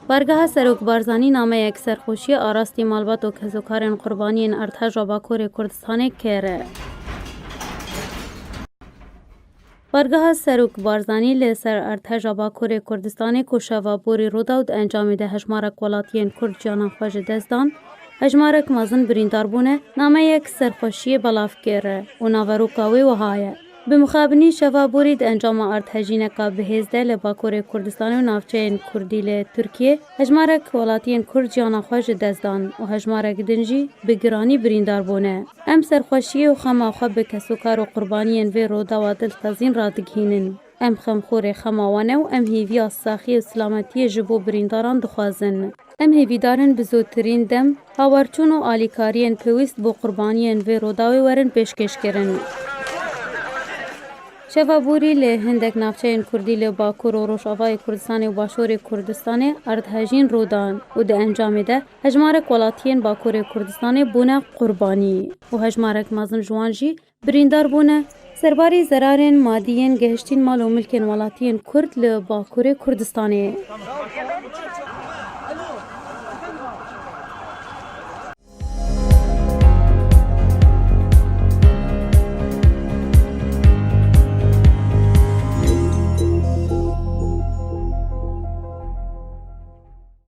Bargeha Serok Barzanî nameyek serxweşiyê arastî malbat û kezokarên qurbaniyên erdheja Bakurê Kurdistanê kir. Bargeha Serok Barzanî li ser erdheja Bakurê Kurdistanê ku şeva borî Rûdawd encamî de hejmarek welatiyên Kurd ciyana xwe ji dest dan, Hejmarek mezin birîndar bûne, nameyek serxweşiyê belav kir û naveroka wê wiha ye, Bi mixabinî şeva borî di encama ardhejîneka bihêz de li Bakurê Kurdistanê û navçeyên Kurdî li Tirkiyê hejmarek welatiyên Kurd jiyana xwe ji dest dan û hejmarek din jî bi giranî birîndar bûne. Em serxweşiyê û xema xwe bi kesokar û qurbaniyên vê Rûdawa dilxezîn radigihînin. Em xemxorê xema wan e û em hêviya saxiyê û silametiyê ji bo birîndaran dixwazin. Em hêvîdar in bi zûtirîn dem hawerçûn û alîkariyên pêwîst bo qurbaniyên vê Rûdawê werin pêşkêşkirin. Şeva borî li hindek navçeyên kurdî li Bakur û Rojavayê Kurdistanê û Başûrê Kurdistanê erdhejîn rû dan û di encamê de hejmarek welatiyên Bakurê Kurdistanê bûne qurbanî û hejmarek mezin ji wan jî Birîndar bûne, serbarî zerarên madî yên gehiştîn mal û milkên welatiyên Kurd li Bakurê Kurdistanê.